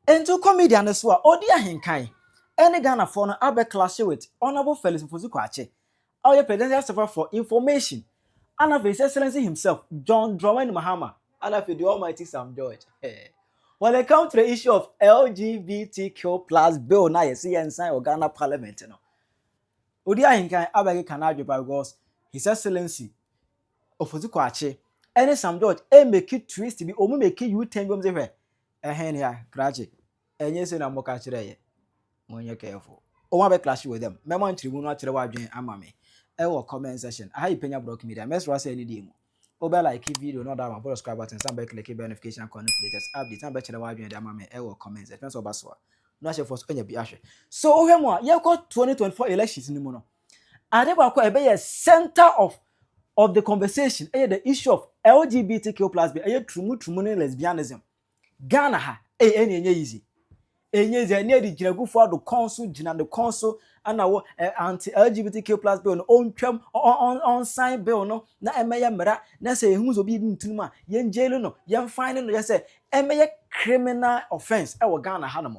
Enti wokɔ media no so a, ɔdi ahenkan ne Ghanafoɔ no abɛ clashe with Honourable Felix Ofosu Kwakye a ɔyɛ Presidential Server for Information ana afei His Excellency himself John Dramani Mahama ana afei the Almighty Sam George eh. When it comes to the issue of LGBTQ plus bill na yɛse yɛnsan wɔ Ghana Parliament no, ɔdi ahenkan abɛkeka n'adwe pa because His Excellency Ofosu Kwakye ne Sam George ɛmmeki twist bi, wɔn mmeki U-turn bi, wɔn se hwɛ Ɛhe ne a krakye? Ɛnyɛ sei na moka kyerɛɛ yɛn? Monyɛ careful. Wɔn a bɛkrakye wɔ dɛm? Mɛma nkyerɛmu no akyerɛ w'adwene ama me wɔ comment section. Aha yɛ Penya Brock Media. Mɛsrɛ sɛ ne deɛ mu. Wo bɛ like video no, da ma bɔ subscribe button, san bɛ click bɛ notification icon no for latest updates, na bɛkyerɛ w'adwene de ama me wɔ comment section. Sɛ ɔba so a, na hyɛfoɔ so anya bi ahwɛ. So wohwɛ mu a, yɛkɔ 2024 elections no mu no, Ade baako a ɛbɛyɛ center of of the conversation ɛyɛ the issue of LGBTQ plus bi ɛyɛ turumu turumu ne lesbianism. Ghana ha ɛyɛ ɛnyɛ ɛnyɛ easy. Ɛnyɛ easy ɛne ɛde gyinagufoɔ ado kɔn so gyina ne kɔn so ɛna wɔ ɛ anti LGBTQ plus bill no ɔntwam ɔnsan bill no na ɛmɛyɛ mmara na sɛ yɛhu sɛ obi yɛ bi ntinum a yɛn jail no yɛn fine no yɛ sɛ ɛmɛyɛ criminal offence ɛwɔ Ghana ha nom.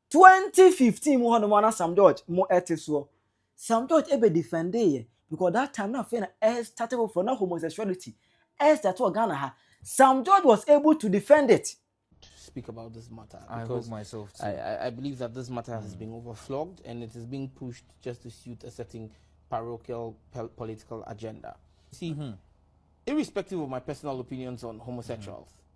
Twenty fifteen mu hɔ nom a na Sam George mo ɛte soɔ. Sam George ɛbɛ defendee yɛ because that time na afei na ɛstate foforɔ na homosexuality ɛstate wɔ Ghana ha. Sam George was able to defend it. to speak about this matter I hope because myself too. I, I, I believe that this matter has been overflogged and it is being pushed just to suit a certain parochial pel- political agenda. See, irrespective of my personal opinions on homosexuals,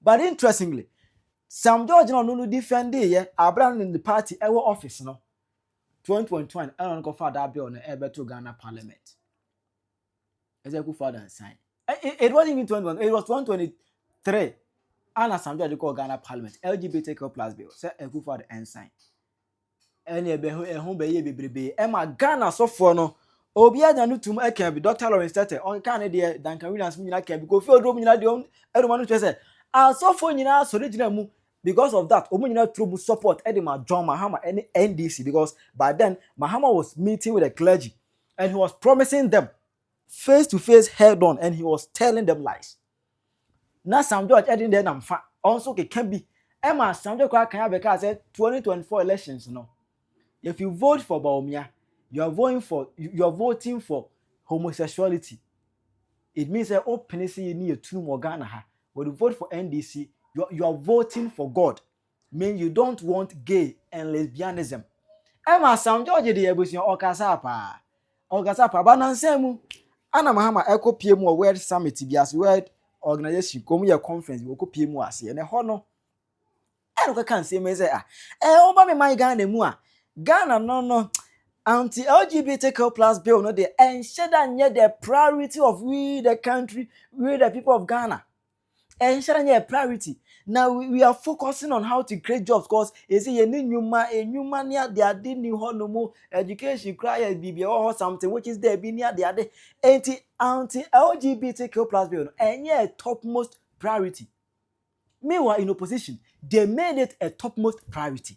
But interestingly, Sam George na ɔno no defendee yɛ aber a no ne party wɔ office no, twenty twenty one ɛna ɔno kɔfaa daa bill no ɛrebɛto Ghana parliament. Ɛsɛ Akufo Addo ansan. It wasn't even twenty twenty, it was twenty twenty three ana Sam George kɔɔ Ghana parliament LGBTQ plus bill sɛ Akufo Addo ɛnsan. ɛne ɛbɛ ho ɛho bɛyɛ bebrebe ɛma Ghana sɔfoɔ no obi anya no tum ɛka bi Dr Lawrence Tete ɔnka ne deɛ Duncan Williams mu nyinaa ka bi Kofi Oduro mu nyinaa deɛ ɔn ɛnuma no kyerɛ sɛ asɔfoɔ nyinaa sɔre gyina mu because of that wɔn nyinaa turo mu support ɛde ma John Mahama ɛne NDC because by then Mahama was meeting with the clergy and he was promising them face to face head on and he was telling them lies. Na Sam George de ne deɛ nam fa, ɔno nso keka bi. Ɛma Sam George koraa kan abɛkaa sɛ 2024 elections no, if you vote for Bawumia, you are voting for, you are voting for homosexuality. It means sɛ wopene sɛ yɛni yɛtunum wɔ Ghana ha. When you vote for NDC, you are, you are voting for God. Mean you don't want gay and lesbianism. Ɛma Sam George de abusua ɔkasa paa. Ɔkasa paa. Ba nansa mu, ana Mahama ɛkɔ pie mu wɔ World Summit bi ase, World Organization, kɔm yɛ conference bi, wɔkɔ pie mu ase. Ɛnɛ hɔ no, ɛna ɔkɛka nsɛm yi sɛ, ah, ɛɛ, eh, ɔba me man Ghana mu a, Ghana no no, anti LGBTQ plus bill no deɛ, ɛnhyɛ da nyɛ the priority of we the country, we the people of Ghana. Ɛnhyɛ da nyɛ priority. Na we are focusing on how to create jobs cause ɛsɛ yɛn ne nnwuma, nnwuma ne ade ade ni hɔ no mu, education kura yɛ biribi ɛwɔ hɔ something which is there bi ne ade ade. Enti anti LGBTQ plus bill no ɛnyɛ a topmost priority. Meanwhile in opposition, they made it a topmost priority.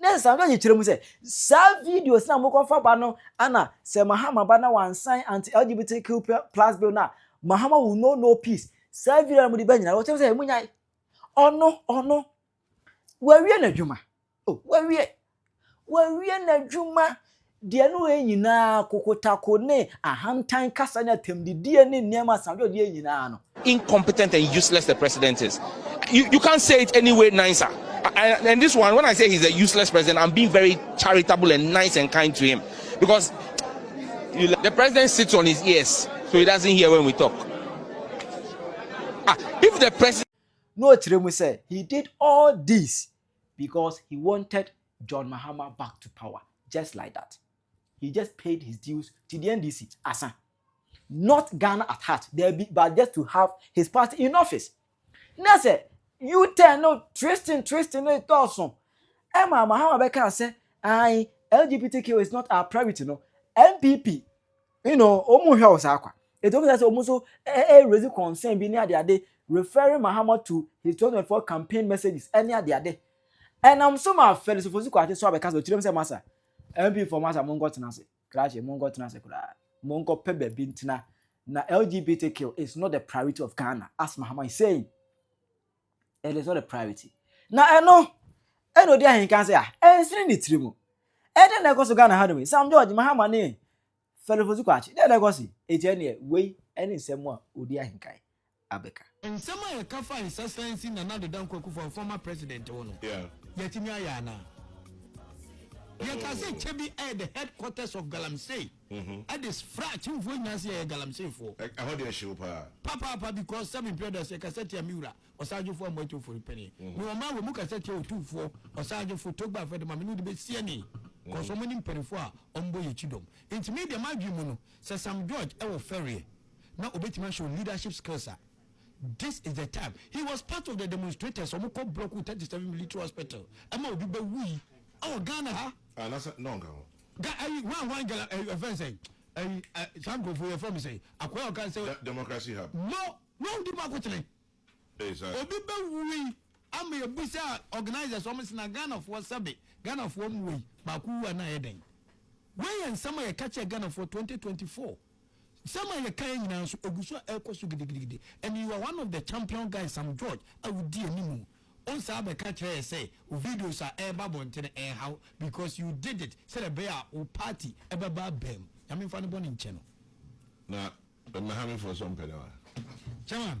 Ne nsa no nyikyerɛ mu sɛ, saa videos na mokɔfa ba no ana sɛ Mahama ba na wansan anti LGBTQ plus bill no a, Mahama will know no peace. Saa video na mode ba nyinaa no, wɔkyerɛ sɛ munyae. Ɔno, ɔno. Wawie n'adwuma. Oh, wawie. Wawie n'adwuma. Deɛ ne wei nyina ara, kokotako ne ahantan kasa ne atɛmdidie ne nneɛma asadwodeɛ nyina ara no. incompetent and useless the president is you you can't say it any way nicer and and this one when I say he's a useless president I'm being very charitable and nice and kind to him because you the president sits on his ears so he doesn't hear when we talk ah if the president. Na ɔkyerɛ mu sɛ he did all this because he wanted John Mahama back to power just like that he just paid his dues to the NDC asa not Ghana at heart daabi but just to have his party in office na sɛ U-turn no twisting twisting no dɔɔso ɛma Mahama bɛka sɛ ae LGBTQ is not our priority no NPP you know wɔn nhwɛ wo saa kwa etu wɔn sɛ wɔn nso ɛɛ raise concern bi ne adeade referring mahama to his twenty twenty four campaign messages ɛne adeade ɛnam so ma fɛlisifo si kɔ ate so abɛka sɛ ɔkyerɛ mu sɛ masa mp fo masa mo nkɔ tena ase krakye mo nkɔ tena ase koraa mo nkɔ pɛ baabi ntena na lgbtq is not the priority of ghana as mahama is saying. It is not a priority. Na ɛno ɛna odi ahenkan sɛ a ɛnsene ne tiri mu. Ɛdɛn na ɛkɔ so Ghana hanom yi? Sam George Mahama ne Philip Osukwakye. Dɛn na ɛkɔ so? Eti ɛneɛ wei ɛne nsɛm a odi ahenkan abɛka. Nsɛm a yɛka faa nsasansi Nana Addo Dankwa Akufo-Addo, former president, ho no, yɛatumi ayɛ anaa? Yɛkaa sɛ Kyebi yɛ the headquarters of Galamsey. ɛde fra atumfoɔ nyinaa sɛ yɛyɛ galamseyfoɔ. Ɛhɔ deɛ ɛhyew paa. Papaapa because seven brothers ɛkasa tia me wura ɔsagyefo amu atufo no pɛnee ne wɔn a wɔn mu kasa tia otumfoɔ ɔsagyefo togba afɛde ma me ne wode bɛsie ne kɔsɔ mo ne mpanimfoɔ a wɔn bɔ yɛ akyi dɔm nti me deɛ m'adwene mu no sɛ sam george ɛwɔ fɛreɛ na obɛtumi ahyɛ leadership skills a this is the time he was part of the demonstrators wɔn kɔ block 37 military hospital ɛma obi bɛwui ɛwɔ ghana ha anasa na ɔnka ho Ga ayi hwan hwan gala ɛyi ɛfɛn sɛ ɛyi ɛ saa nkurɔfoɔ yɛ fɛn mi sɛ akɔya ɔka sɛ. Da democracy hub. Mo wɔn di mu akotene. Ɛyɛ saa. Obi bɛ wui ama yɛ bisa organisers wɔn sɛ na Ghanafoɔ sɛbe Ghanafoɔ mu wɔ yi baako wu a na ayɛ dɛn? Wei yɛ nsɛm a yɛ ka kyerɛ Ghanafoɔ twenty twenty four. Nsɛm a yɛka yi nyinaa nso, egu so a ɛrekɔ so gidigidigidi. And you are one of the champion guys, Sam George, a wudi anim. Wonsan abɛka kyerɛ yɛn sɛ wo videos a ɛreba abɔnten no ɛnha wo because you did it sɛdeɛ ɛbɛyɛ a wo party bɛba abam. Nyame mfa ne bɔne nkyɛ no. Na Mmahamifoɔ nso mpɛ no a? Chairman,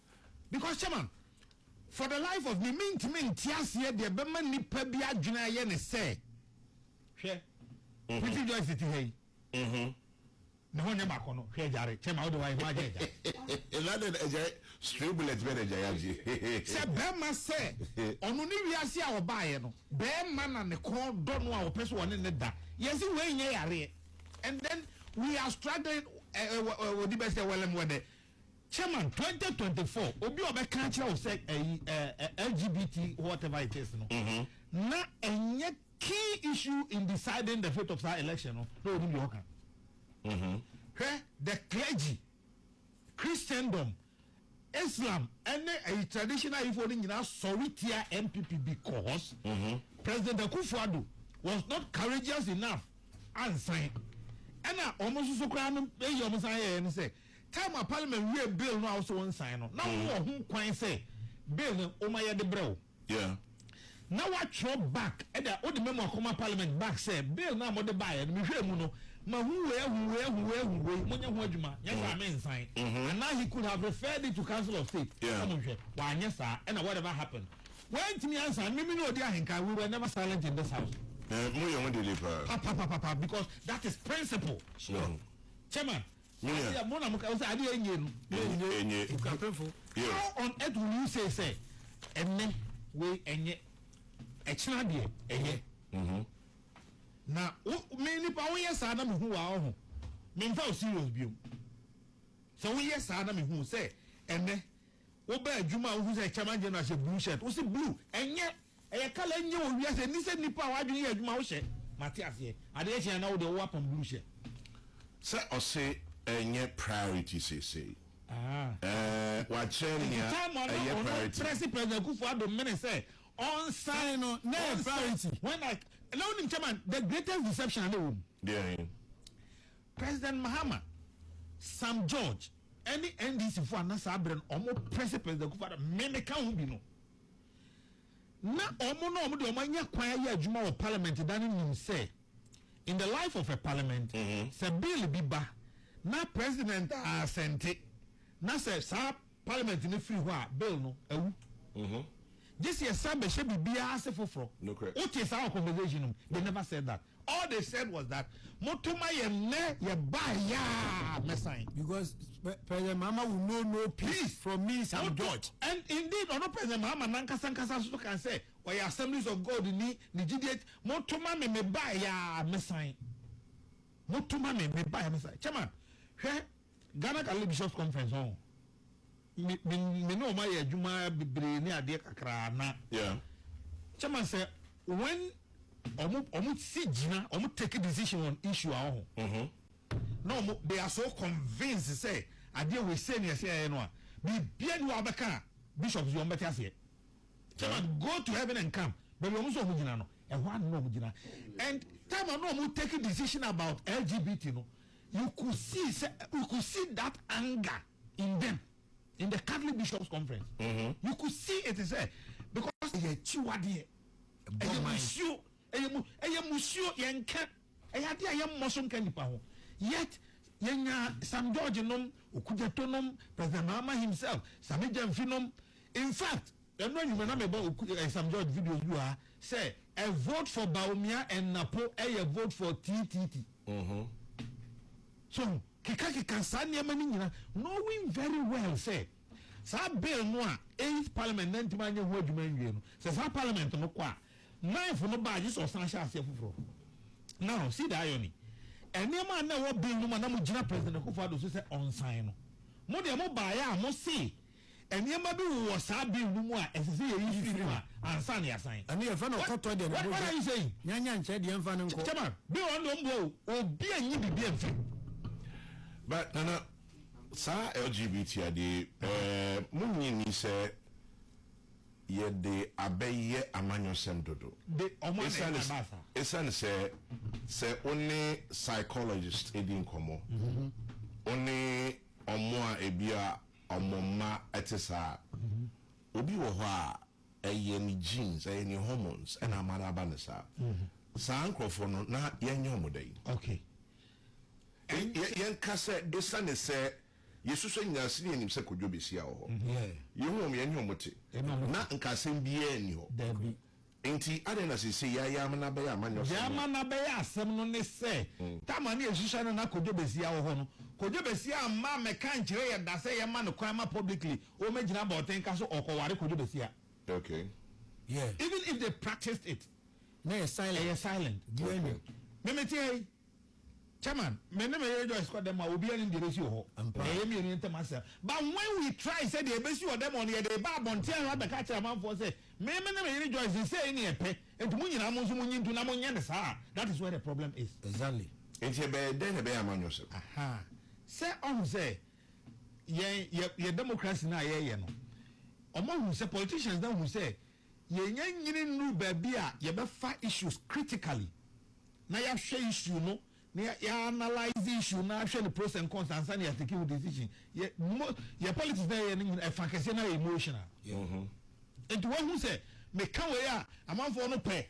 Because chairman, for the life of me, mentumi nte aseɛ deɛ ɛbɛma nipa bi adwene ayɛ ne sɛ, hwɛ, mhm. Pretty Joyce te ha yi. Mhm. Ne ho nyɛ baako no, hwɛ agyare, chairman wode wayɛ ho agye agyare. Ɛnade agyare, stray bullet bɛ na agyare agye. Sɛ bɛrima sɛ, ɔno ne wiase a ɔbaeɛ no, bɛrima na ne kɔn dɔ no a ɔpɛ so ɔne ne da. Yɛsi wei nyɛ yareɛ. And then we are struggling, ɛɛ, eh, eh, eh, wɔdi bɛ sɛ wɛlɛm wɛdɛ. Chairman, twenty twenty four, obi a ɔbɛka akyerɛ wo sɛ ɛyi ɛɛ LGBT whatever it is no, mm-hmm. na ɛnyɛ key issue in deciding the fate of saa election no na onim deɛ ɔka. Mm-hmm. Hwɛ the clergy, Christendom, Islam ɛne ɛyi traditional ifo no nyinaa sɔre tia NPP because mm-hmm. President Akufo-Addo was not courageous enough ansan ɛna wɔn nso so koraa no eyi wɔn san yɛ yɛn sɛ. Time a parliament wiee bill no a wose wo nsign no, na wowɔ ho kwan sɛ bill no woma yɛde brɛ wo. Yeah. Na woatwerɛ back ɛda, wode memo akɔma parliament back sɛ bill no a mode baeɛ no mehwɛɛ mu no, mahu wei ahu wei ahu wei ahu wei, monyɛ ho adwuma, nyɛ saa a me nsign. Anaa he could have referred it to council of state sɛ monhwɛ. Wanyɛ saa ɛna whatever happened, wantumi ansign. Me me ne ɔdi ahenkan, we were never silent in this house. Moyɛ ho dede paa. Papapapapa because that is principle. Sure. Chairman, Ɛsɛ yɛ mo na mo ka sɛ adeɛ enye no na enye okuapefo. How on earth will you say sɛ ɛnɛ wei ɛnyɛ ɛkyina deɛ ɛyɛ? Mm-hmm. Na wo me nipa woyɛ saa na mehu wa ɔho memfa o serious biom sɛ woyɛ saa na mehu sɛ ɛnɛ wobɛ adwuma a wohu sɛ chairman general hyɛ blue shirt wo se blue ɛnyɛ Ɛyɛ kala ɛnyɛ wɔ wiase ɛni sɛ nipa a wadwene yɛ adwuma wohyɛ mate aseɛ adeɛ kye a na wode wo apam blue hyɛ. Sɛ ɔse ɛnyɛ priority seesei ɛɛ wakyerɛ nea ɛyɛ priority. Ɛnti time a na ɔno prɛse President Akufo Addo mene sɛ ɔnsan no na ɛyɛ priority when I na wonim chairman the greatest deception a na ɛwɔ mu. Deɛn? President Mahama, Sam George ɛne NDC foɔ a na saa berɛ no ɔmo prɛse President Akufo Addo me meka ho bi no. na wɔn na wɔn de wɔn anya kwan ayɛ adwuma wɔ parliament da no nim sɛ in the life of a parliament mm-hmm. sɛ bill bi ba na president asɛnte na sɛ saa parliament no firi hɔ a bill no awu. Mm-hmm. gye sɛ yɛsan bɛhyɛ biribiara ase foforɔ wote saa wɔ conversation no they never said that All they said was that moto ma yɛn nnɛ yɛbae yaa mɛsan. Because President Mahama will know no peace from me Sam George. And indeed ɔno President Mahama nankasa nkasa nso kan sɛ ɔyɛ Assemblies of God ni ne gyidie moto ma me mebae yaa mɛsan. Moto ma me mebae mɛsan. Chairman, hwɛ Ghana Galilee Bishops Conference ɔn. me me me ne wɔn ayɛ adwuma bebree ne adeɛ kakra na yeah. kyɛ ma sɛ when wɔn wɔn si gyina wɔn take decision on issue a wɔho mm -hmm. na wɔn they are so convinced sɛ adeɛ wɔ ese ne ɛsɛ ɛyɛ no a biribia ni wɔn abɛka bishops yi wɔn bɛte aseɛ kyɛ ma go to heaven and come baabi wɔn nso wɔn gyina no ɛhɔ ano na wɔn gyina and time a na wɔn take decision about LGBT no. You could see sɛ you could see that anger in them in the Catholic bishops conference. Mm -hmm. You could see it sɛ because ɛyɛ akyiwadeɛ ɛyɛ musuo ɛyɛ mu ɛyɛ musuo yɛn nka ɛyɛ adeɛ a yɛn mmɔ so nka nipa ho yet yɛn nya Sam George nom Okudzeto nom President Mahama himself Sami Gyamfi nom in fact. Ɛno anwuma na mebɔ oku eh, Sam George videos bi wɔ ha sɛ ɛ vote for Bawumia ɛnapo ɛyɛ vote for TTT. Mm -hmm. So keka keka saa nneɛma no nyina knowing very well sɛ saa bill no a eighth parliament na ntumi anyɛ ho adwuma nwie no sɛ saa parliament no kɔ a ninth no baa gye sɛ ɔsan hyɛ aseɛ foforɔ. Now see the irony nneɛma a na ɛwɔ bill no mu a na mo gyina president Akufo-Addo so sɛ ɔnsan no mo deɛ mo baeɛ a mo se Nneɛma bi wowɔ saa bill no mu a ɛsɛ sɛ yɛyi firi mu a ansa na yɛasan. Ɛno yɛfrɛ no ɔkɔtɔ deɛ ne bo What are you saying? Nyanya nkyɛ deɛ mfa no nkɔ. Chairman, bill ɔno deɛ ɔmmoa o, obi anyi biribi amfiri mu. But Nana, saa LGBT adeɛ yi, eh, monnye nni sɛ yɛde abɛyɛ amanyɔsɛm dodo? De, wɔn a na Ɛsiane ɛma s- ɛbaa saa. Ɛsiane sɛ, sɛ wo ne psychologist di nkɔmmɔ, wo ne wɔn a ebia Ɔmo mma ɛte saa. Obi wɔ hɔ a ɛyɛ ne genes, ɛyɛ ne hormones ɛna ama no aba no saa. Saa nkorɔfoɔ no na yɛnyɛ ɔmo dɛn? Okay. Yɛ, yɛnka sɛ esiane sɛ yɛsusua nyinaa sene yɛnim sɛ Kojo Besia wɔ hɔ, yɛhu wɔn, yɛne wɔn te, na nka asɛm biara nni hɔ. Daabi. Enti, adɛn na seesei yɛa Yaama no abɛyɛ amanyɔsɛm no? Yaama no abɛyɛ asɛm no ne sɛ, Tamar ne Asusua no a na Kojo Basia wɔ hɔ no, Kojo Basia amma ammɛka ankyerɛ yɛn da sɛ yɛmma no kwan ma publicly ɔmmɛgyina abɔntenka so ɔrekɔware Kojo Basia. Okay. Yeah. Even if they practiced it, na ɛyɛ silent. Ɛyɛ silent. Biaa nnim. Okay. Me mete ha yi, Chairman, me ne me yere Joyce kɔ dɛm a, obiara nim deɛ ɛbɛsi wɔ hɔ. Ɛyɛ yɛn mmienu yɛn ntam asɛm. But when we try sɛ deɛ ɛbɛsi wɔ dɛm hɔ no, yɛde ba abɔnten ha bɛka kyerɛ amanfoɔ sɛ, Me me ne me yere Joyce no, sei ne yɛpɛ, enti mo nyinaa mo nso monyi ntom na monyɛ no saa a, that is where the problem is. Exactly. Enti yɛbɛyɛ dɛn na ɛbɛyɛ a moanyɛ ɔsɛm? Aha. Sɛ ɔhu sɛ yɛn, yɛ, yɛ democracy no a yɛreyɛ no, wɔahu sɛ, politicians no ahu sɛ, Yɛnnya nyini nnuru baabi a yɛbɛfa issues critically na yɛahwɛ issue no na yɛanalyse issue no ahwɛ ne pros and cons ansa na yɛatake ho decision. Yɛ mo yɛ politics na yɛyɛ no nyina ɛfa kɛseɛ no ayɛ emotional. Nti wahu sɛ meka wei a amanfoɔ no pɛ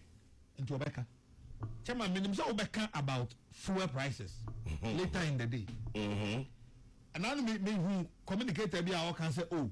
nti ɔbɛka. Chairman menim sɛ wobɛka about fuel prices later in the day. Ɛna no mehu communicator bi a ɔka sɛ oh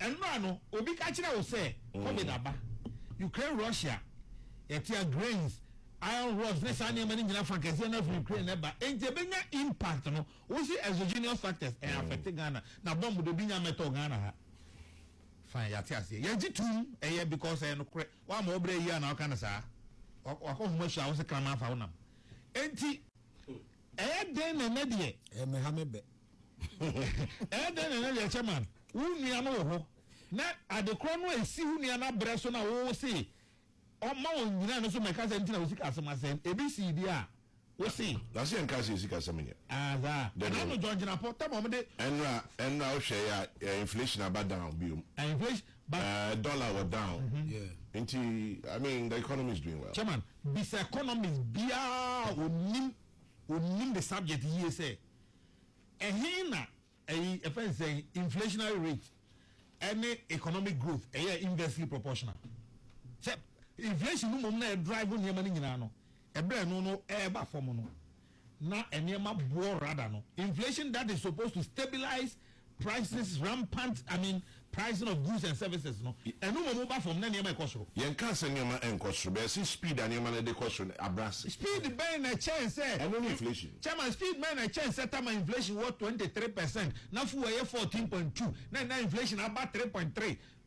Ɛnora no obi ka kyerɛ wo sɛ covid aba, Ukraine Russia yɛtea grains, iron rods ne saa nneɛma no nyina fa kɛseɛ no afiri Ukraine ɛba enti ɛbɛnya impact no wo se exogenous factors ɛɛ affect Ghana na bomb de obi nya mɛtɔ Ghana ha fine yɛate aseɛ yɛgye tum ɛyɛ because ɛyɛ nokorɛ woama wo berɛ yia na woka no saa wakɔ homa su a wo se kraman afa wo nam enti ɛyɛ den na ɛnɛ deɛ ɛmɛha me bɛ Ɛyɛ dɛn na na yɛkyɛ man wo nua no wɔ hɔ, na adekorɔ no a ɛsi wo nua no abrɛ so na wo se ɔma wɔn nyina no so mɛka sɛ nti na wo sika asɛm asɛn ebi sii deɛ a wo se. Na se yɛnka sɛ sika asɛm nyɛ. Ah saa. Ɛna no John Gyinapɔ tam a wɔn de. Ɛnora ɛnora wo hwɛ yɛ a inflation aba down biom. Ah inflation but. Ɛɛ dollar wɔ down. Yeah. Nti I mean the economy is doing well. Chairman bisa economist biara onim onim the subject yie sɛ Ɛhe na ɛyi yɛfrɛ no sɛn inflationary rate ɛne economic growth ɛyɛ inversely proportional? Sɛ inflation no mmom na ɛdrive nneɛma no nyinaa no, ɛberɛ a ɛno no ɛreba fam no na nneɛma boɔ rather no inflation that is supposed to stabilize Prices rampant, I mean pricing of goods and services no, ɛno mmom woba fam na nneɛma rekɔ soro. Yɛnkaa sɛ nneɛma nkɔ soro, but yɛse speed a nneɛma no de kɔ soro no abrɛ ase. Speed bɛn na ɛkyɛn sɛ. Ɛno ne inflation. Chairman, speed bɛn na ɛkyɛn sɛ tama inflation wɔ twenty three percent na fuel yɛ fourteen point two na nnɛ inflation aba three point three?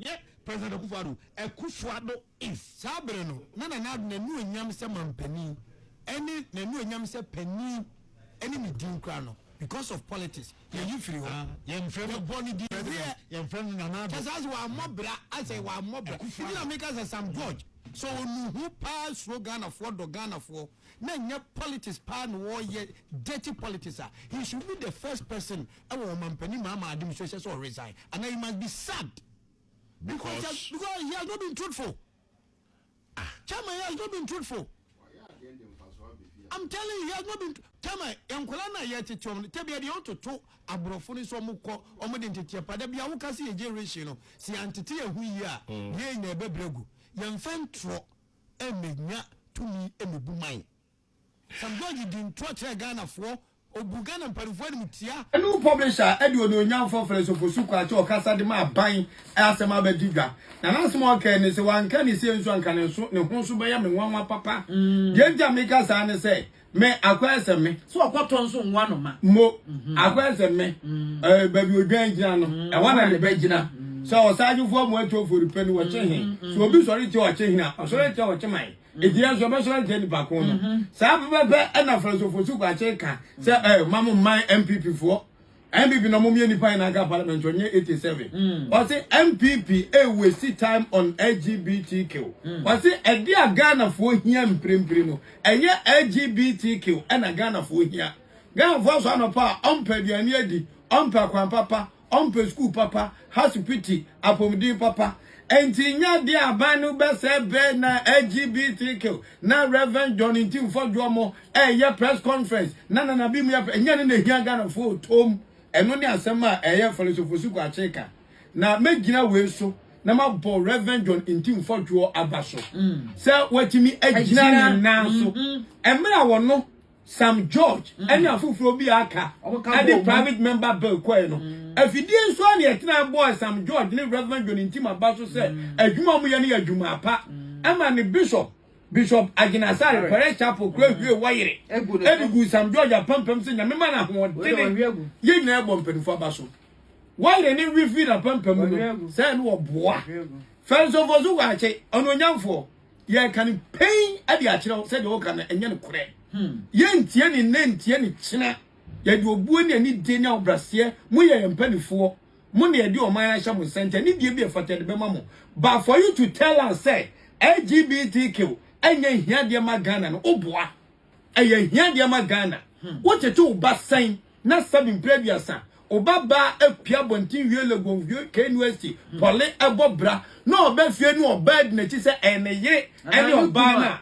Yɛ President Akufo Addo, Akufo Addo is. Saa bere no, na Nana Addo n'anuonyam sɛ manpanin ne n'anuonyam sɛ panin ne ne din koraa no, because of politics, yɛyi firi hɔ. Yɛbɔ ne din President. Yɛmfrɛ no Nana Addo. Kyerɛ sɛ, asɛ wammɔ bra, asɛ wammɔ bra. Akufo Addo. Nti na meka sɛ, Sam George, sɛ ɔnu ho paa suro Ghanafoɔ, dɔ Ghanafoɔ. na ɛnyɛ politics paa na ɔyɛ dirty politics a he should be the first person ɛwɔ ɔmampanin mahama administration sɛ ɔresign anaa he must be sacked because he has, because he has not been truthful ah. chairman he has not been truthful i'm telling you he has not been chairman nkɔla na yɛ tete ɔmo tɛbi ɛdi ɔmo toto aborɔfo ni sɛ ɔmo kɔ ɔmo de ntete ɛpa dɛbi awo kasi yɛ generation no si antete yɛ hu yie a yɛ nyɛ ɛbɛbrɛ gu yɛn fɛn torɔ. mmɛnya tumi mmɛbu man. Sam George di ntorɔ kyerɛ Ghanafoɔ, ɔbu Ghana mpanimfoɔ animtia. New Publisher de onuonyamfoɔ Felix Ofosu Kwakye ɔkasa de ma aban asɛm abɛgye dwa, na n'asɛm a ɔkae ne sɛ, Wanka ne sei nso a anka ne ho nso bɛyɛ me nwanwa papa. Deɛ nti a meka saa ne sɛ, Me akɔyɛ sɛ me. So ɔkɔtɔ nso nwa no ma. Mo mhm. akɔyɛ sɛ me. Mm. Eh, baabi odwan gyina no mm. ɛhɔ na ne bɛ gyina. Mm. Sɛ ɔsaagyefoɔ amu atwa ofori pɛ no wɔkye he. So obi sɔre tia ɔkye hena ɔsɔre tia ɔkye man. Eti yɛn nso ɔbɛsɔre tia nipa ko no. Mhm. Saa pɛpɛpɛ ɛna fɛrɛsofo so kɔ akye ka sɛ ɛɛ eh, mamu man MPP foɔ. NPP na ɔmo yɛ nipa yɛ n'aka parliament ɔnyɛ eighty seven ɔsi NPP a wesi time on LGBTQ ɔsi ɛde a Ghana foɔ hia mpirempire no ɛyɛ LGBTQ ɛna Ghana foɔ hia Ghana foɔ aso anɔpa a ɔmpɛ aduane adi ɔmpɛ akwan papa ɔmpɛ sukuu papa Hasupiti, Apɔmuden papa. Enti nyɛ adeɛ a aban no bɛsɛe berɛ na LGBTQ na Rev. John Ntimfo Juomo reyɛ press conference na Nana Abiy mu yɛ pɛ. Nyɛ ɛno na ɛhia Ghanafoɔ o, toom. Ɛno ne asɛm a ɛyɛ Fɛlɛsofosiko Akyee ka. Na mɛgyina wei so na mabɔ Rev. John Ntimfo Juo aba so sɛ watumi agyina ne nan so mmerɛ a ɔno, Sam George mm. ne afoforɔ bi aka de private member bill kɔɛ no mm. afidie nso a ne ɛtena bɔɔ Sam George ne Reverend John Ntimaba so sɛ mm. adwuma a wɔyɛ no yɛ adwuma apa ɛma ne bishop bishop agyinasare parish chapel kura hwie wɔyere ɛde gu Sam George apampam sɛ nyame ma no ahoɔdene yɛ nyinaa bɔ mpanimfoɔ aba so wɔyere ne wifi na apampam no sɛ ne wɔboa fɛnsɔfoɔ so wɔ akye ɔno onyamfoɔ Yɛreka no pɛn de akyerɛ wo sɛ deɛ woka no ɛnyɛ nokorɛ. Hmm. Yɛntie ne nnɛ ntie ne kyena. Yɛde obuo ne anidie ne ahobraseɛ mo yɛ yɛn mpanimfoɔ. Mo na yɛde ɔman ahyɛ mo nsa nti anidie bi ɛfata yɛde bɛma mo. But for you to tell us sɛ LGBTQ ɛnyɛ hiadeɛ ma Ghana no, woboa. Ɛyɛ hia deɛ ma Ghana. Wo tete wo ba sɛn na sɛbi mpre aduasa wo ba baa apue abɔnten wie Legon wie KNUST pɔle ɛbɔ bra na ɔba fie na ɔbaa di nakyi sɛ ɛyɛ ne yere ɛne ɔbaa no a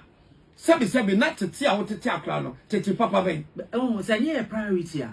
sɛbi sɛbi na tete a wo tete akora no tete papa bɛn. Ɛwom sɛ ɛnyɛ yɛ priority a.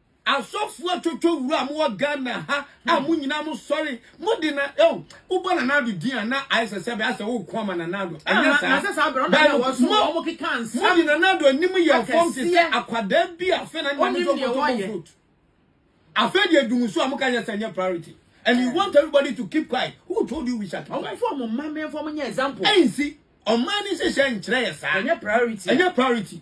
Asɔfoɔ twotwo wura mo wɔ Ghana ha a mo nyinaa mo sɔre mo de na oh wobɔ Nana Addo din a na ayɛ sɛ sɛbe asɛ woko ama Nana Addo ɛnyɛ saa bɛn mo mo de Nana Addo anim yɛ fam te sɛ akwadaa bi a afei na ne maame so ɔkɔtɔ bɔ vote afei deɛ dum so a mo ka nyɛ sɛ nyɛ priority and you want everybody to keep quiet who told you we shut up ɔmo fɔ mo mma mɛnfɔ mo nyɛ example ɛnsi ɔman ne nhyehyɛ nkyerɛ yɛ saa ɛnyɛ priority ɛnyɛ priority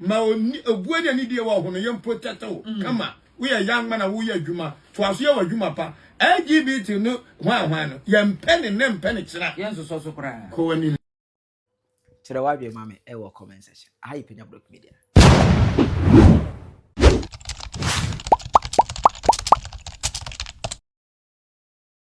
Ma obuo ne anidie wɔ ahonoyɛ mpo tɛtɛ wo kama. Woyɛ young man a woyɛ adwuma, toa so yɛ w'adwuma pa. LGBT no hwan hwan no, yɛmpɛ ne nnɛ mpɛ ne kyena. Yɛnsosɔ so koraa. Kɔ w'anim. Kyerɛ w'adwene ma me wɔ comment section. Aha yɛ Panya Blog Media.